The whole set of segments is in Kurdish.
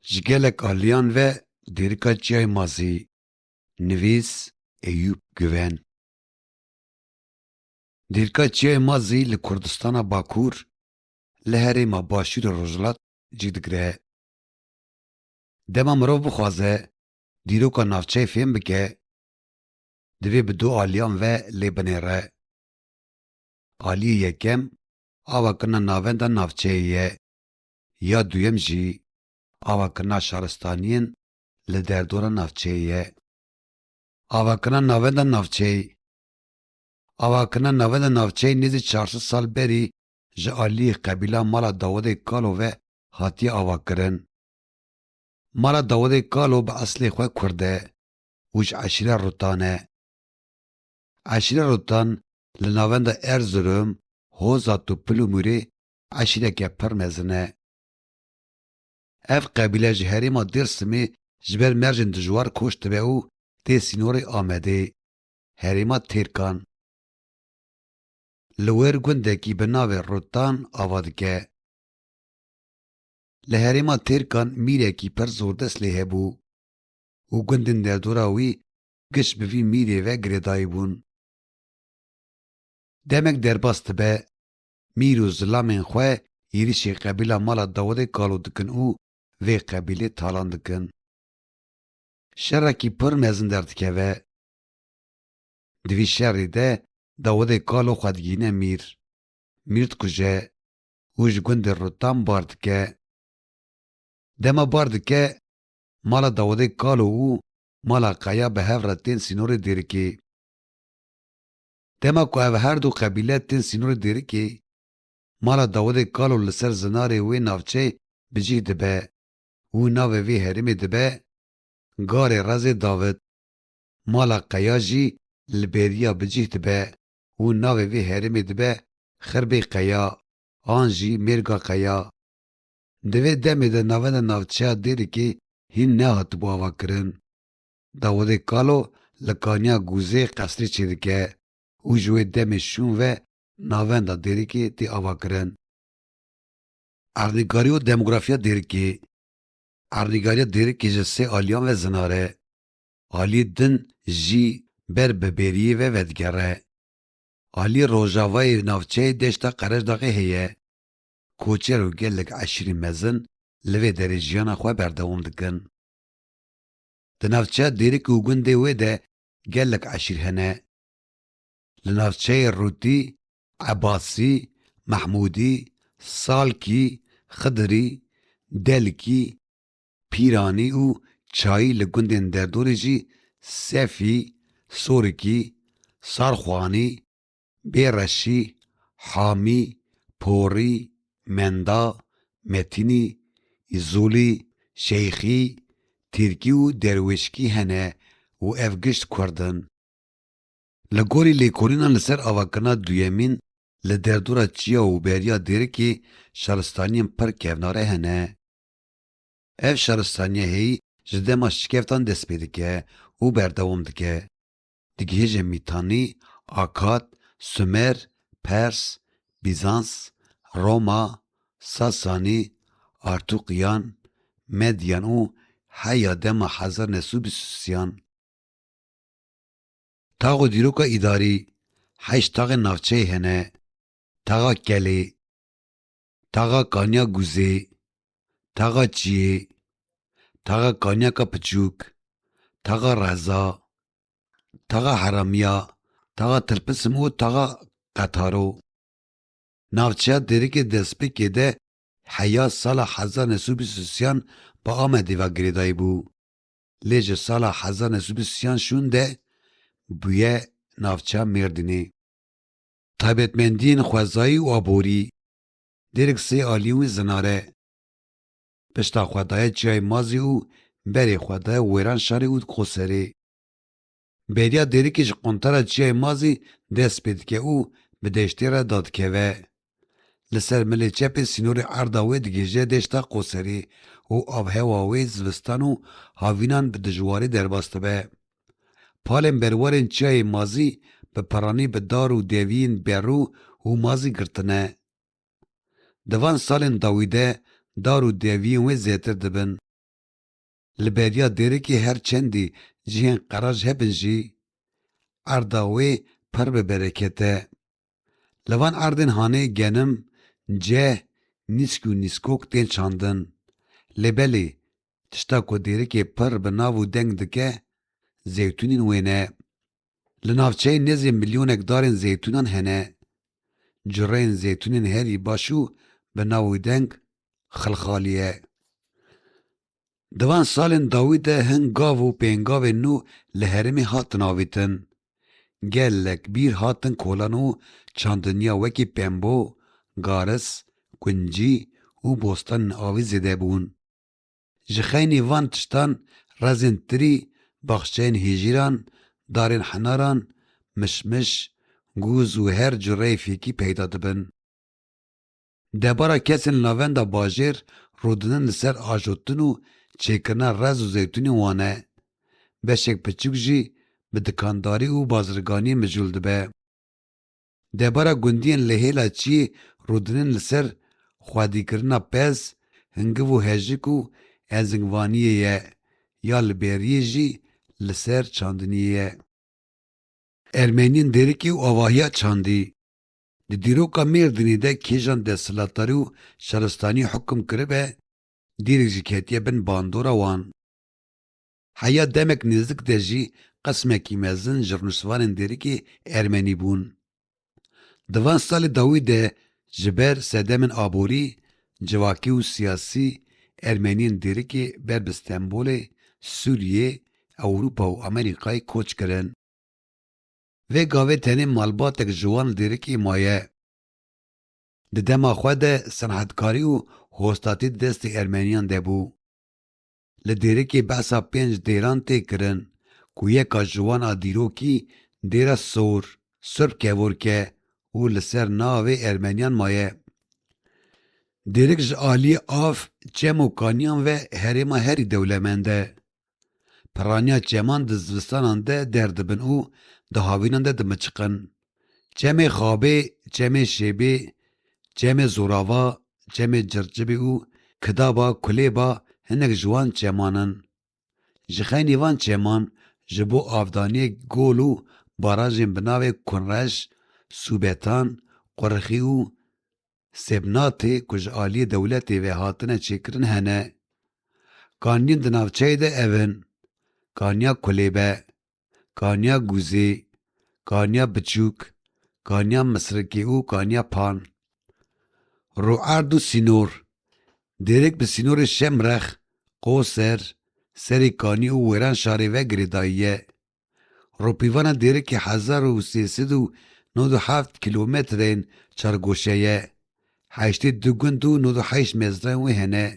Ji gelek aliyan ve Dêrika Çiyayê Mazî Nivîs Eyûp Guven Dêrika Çiyayê Mazî li Kurdistana Bakur li herêma Başûrê Rojhilat cih digire. Dema mirov bixwaze dîroka navçeyê fêm bike divê bi du aliyan ve lê binêre. Aliyê yekem Ava kirina navenda navçeyê ye. Ya duyem jî ava kirina şaristaniyên li derdora navçeyê ye. Ava kirina navenda navçeyê Ava kirina navenda navçeyê nêzî çar sed sal berî ji aliyê qebîla Mala Dawidê Kalo ve hatiye avakirin. Mala Dawidê Kalo bi eslê xwe kurd e û ji eşîra Rutan e. Eşîna Rutan li navenda Erzurum, Hoza Tupil û Mûrê eşîneke pir mezin e. Ev qebîle ji herêma Dêrsimê ji ber mercên dijwar koç dibe û tê sînorê Amedê, herêma Têrkan. Li wir gundekî bi navê Rutan ava dike. Li herêma Têrkan mîrekî pir zordest lê hebû û gundên derdora wî giş bi vî mîrê ve girêdayî bûn. Demek derbas dibe, mîr û zilamên xwe êrişê qebîla mala Dawidê kalo dikin û vê qebîlê talan dikin. Şerekî pir mezin derdikeve. Di vî şerî de Dawidê kalo xwe digihîne mîr, mîr dikuje û ji gundê Rutam bar dike. Dema bar dike, mala Dawidê kalo û Mala Kaya bi hev re tên sînorê Dêrikê. Dema ku ev her du qebîle tên sînorê Dêrikê, Mala Dawidê Kalo li ser zinarê wê navçeyê bi cih dibe û navê vê herêmê dibe Garê Rezê Dawid. Mala Kaya jî li bêriya bi cih dibe û navê vê herêmê dibe Xirbê Kaya an jî Mêrga Kaya. Di vê demê de navenda navçeya Dêrikê hîn nehatibû avakirin. Dawodê Kalo li Kaniya Gûzê qesrê çêdike û ji wê demê şûn ve navenda Dêrikê tê avakirin. Erdnîgarî û demografiya Dêrikê Erdnîgariya Dêrikê ji sê aliyan ve zinar e. Aliyê din jî ber bi bêriyê ve vedigere. Aliyê rojavayê navçeyê deşta Qereşdaxê heye. Koçer û gelek eşîrî mezin li vê derê jiyana xwe berdewam dikin. Di navçeya Dêrikê û gundê wê de gelek eşîr hene. Li navçeyê Rûtî, Ebasî, Mehmûdî, Salkî, Xidirî, Delkî, Pîranî û Çayî li gundên derdorê jî Sefî, Sorikî, Sarxwanî, Bê reşî, hamî, porî, menda, metînî, îzolî, şeyxî, tîrkî û derwêşkî hene û ev gişt kurd in. Li gorî lêkolînan li ser avakirina duyemîn li derdora çiya û beriya Dêrikê şaristaniyên pir kevnare hene. Ev şaristaniye hêyî ji dema şikeftan dest pê dike û berdewam dike. Digihêje Mîtanî, Akad, Sumer, Pers, Bîzans, Roma, Sasanî, Artûkiyan, Medyan û heya dema hezar new sed û bîst û sî-yan. Tax û dîroka îdarî, Heşt taxên navçeyê hene, Taxa Kelê, Taxa kaniya guzê, taxa çiyê, taxa kaniyaka piçûk, taxa reza, taxa heramiya, taxa tirpisim û taxa qetaro. Navçeya Dêrikê Destpêkê de heya sala hezar neh sed û bîst û sîyan bi Amedê ve girêdayî bû. Lê ji sala hezar neh sed û bîst û sîyan şûn de bûye navçeya Mêrdînê. Taybetmendiyên xwezayî û aborî, Dêrk sê alî wî zinare. Pişta xwe daye çiyayê Mazî û berê xwe daye wêran şarê ûd Qoserê. Bêriya Dêrkê ji quntara çiyayê Mazî dest pê dike û bi deştê re dadikeve. Li ser milê çepê sînorê erda wê digihije deşta Qoserê û avhewa wê zivistan û havînan bi dijwarî derbas dibe. Palên berwarên çiyayê mazî bi peranî bi dar û deviyên berû û mazî girtine. Di van salên dawî de dar û deviyên wê zêtir dibin. Li beriya dêrikê her çendî cihên qeraj hebin jî, erda wê pir bi bereket e. Li van erdên hanê genim, ceh, nîsk û nîskok tên çandin. Lê belê, tişta ku dêrikê pirr bi nav û deng dike, zeytûnên wê ne. Li navçeyê nêzî milyonek darên zeytûnan hene. Cureyên zeytûnên herî baş û bi nav û deng, Xilxaliye. Di van salên dawî de hin gav û pêngavên nû li herêmê hatin avêtin. Gelek bîr hatin kolan û çandiniya wekî pembo, garis, kuncî û bostanên avê zêde bûn. Ji xeynî van tiştan rezên tirî, baxçeyên hêjîran, darên hinaran, mişmiş, gûz û her cureyê fêkî peyda dibin. Debara kesên li navenda bajêr rûdinin li ser ajotin û çêkirina rez û zeytûnê wan e. Beşek piçûk jî bi dikandarî û bazirganiyê mijûl dibe. Debara gundiyên li hêla çiyê rûdinin li ser xwedîkirina pez, hingiv û hejik û ezingvaniyê ye ya li bêriyê jî li ser çandiniyê ye. Ermeniyên Dêrikê û avahiya çandî. Di dîroka Mêrdînê de kêjan desthilatdarî û şaristanî hukm kiribe, dîrek jî ketiye bin bandora wan. Heya demek nêzdik de jî qismekî mezin ji rûniştvanên dêrikê ermenî bûn. Di van salê dawî de ji ber sedemên aborî, civakî û siyasî ermeniyên dêrikê ber bi Stenbolê, Sûriyê, Ewropa û Amerîkayê koç kirin. Vê gavê tenê malbatek ji wan lîrikê maye. Di dema xwe de senetkarî û hostatî di destê Ermeniyan de bû. Li dîrikê behsa pênc dêran tê kirin ku yeka ji wan a dîrokî Dêra Sor, Surp Kevorke, û li ser navê Ermeniyan maye. Dîrik ji aliyê av, çem û kaniyan ve herêma herî dewlemend e. Pirraniya çeman di zivistanan de derdibin û di havînan de dimiçiqin. Çemê xabê, çemê şêbê, çemê zorava, çemê cirçibî û kidaba, kulêba hinek ji wan çeman in. Ji xeynî van çeman ji bo avdaniyê gol û barajên bi navê Kunreş, Sûbetan, Qurixî û Seb natê ku ji aliyê dewletê ve hatine çêkirin hene. Kaniyên di navçeyê de ev in, Kaniya Kulêbe, Kaniya Gûzê, Kaniya Biçûk, Kaniya Misrikê û Kaniya Pan. Rûerd û sînor, Dêrêk bi sînorê Şemrex, Qoser, Serê Kanî û Wêran şarê ve girêdayî ye. Ropîvana dêrikê hezar û sê sed û nod û heft kîlometrên çargoşe ye. Heştê du gund û nod û heşt mezrayên wê hene.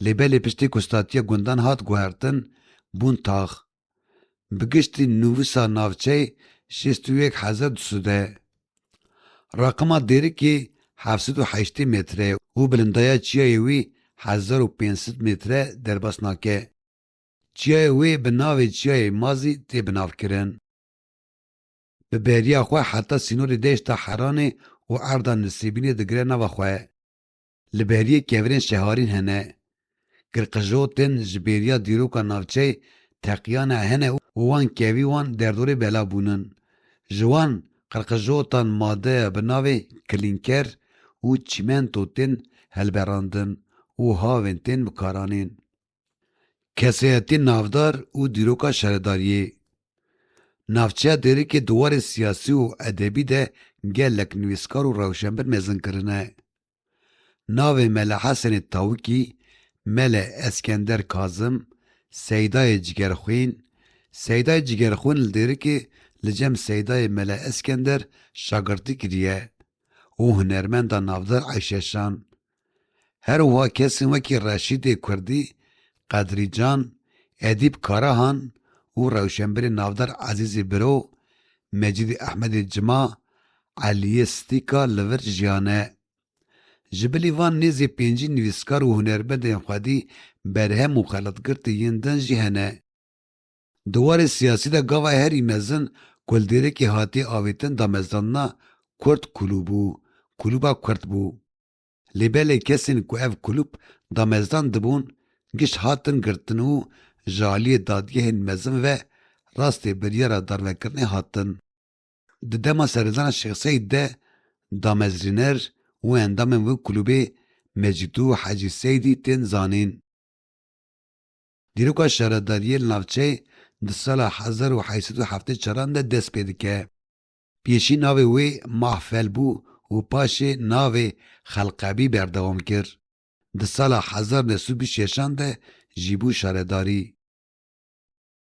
Lê belê piştî ku statiya gundan hat guhertin, bûn tax. Bi giştî nûvisa navçeyê şêst û yek hezar du sed e. Raqima dêrikê heft sed û heştê metre ye û bilindaya çiyayê wî hezar û pênc sed metre derbas nake. Çiyayê wê bi navê Çiyayê Mazî tê binavkirin. Bi beriya xwe heta sînorê deşta Heranê û erda Nisêbînê digire nava xwe. Li beriyê kevirên şeharîn hene. Girqijotên ji bêriya dîroka navçeyê teqiyane hene û wan kevî wan derdorê bela bûnin. Ji wan qirqijotan madeya bi navê Klînker û çîmento tên helberandin û havên tên bikaranîn. Kesayetî navdar û dîroka şaredariyê. Navçeya Dêrikê di warê siyasî û edebî de gelek nivîskar û rewşenbir mezin kirine. Navê Mele Hesenê Tawikî, Mele Eskender Kazim, Seydayê Cigerxwîn, Seydayê Cigerxwîn li Dêrikê li cem Seydayê Mele Eskender şagirtî kiriye û hunermenda navdar Eyşe Şan, Her wiha kesên wekî Reşîdê Kurdî, Qedrî Can, Edîp Karahan û rewşenbirên navdar Ezîzî Biro, Mecîdî Ehmedê Cima, Eliyê Stîka li vir jiyane. Ji bilî van nêzî pêncî nivîskar û hunermendên xwedî berhem û xelatgirtî yên din jî hene. Di warê siyasî de gava herî mezin ku li Dêrekê hatiye avêtin damezrandina Kurd Kulûb û Kulûba Kurd bû. Lê belê kesên ku ev kulûb damezrand dibûn giş hatin girtin û ji aliyê dadgehên mezin ve rastê biryara darvekirinê hatin. Di dema seredana Şêx Seîd de damezrîner û endamên wê kulûbê Mecîd û Hecî Seîdî tên zanîn. Dîroka şaredariyê li navçeyê di sala hezar û heşt sed û heftê çaran de dest pê dike. Pêşî navê wê Mahfel bû û paşê navê Xelqebî berdewam kir. Di sala hezar u neh sed û bîst û şeş an de jî bû şaredarî.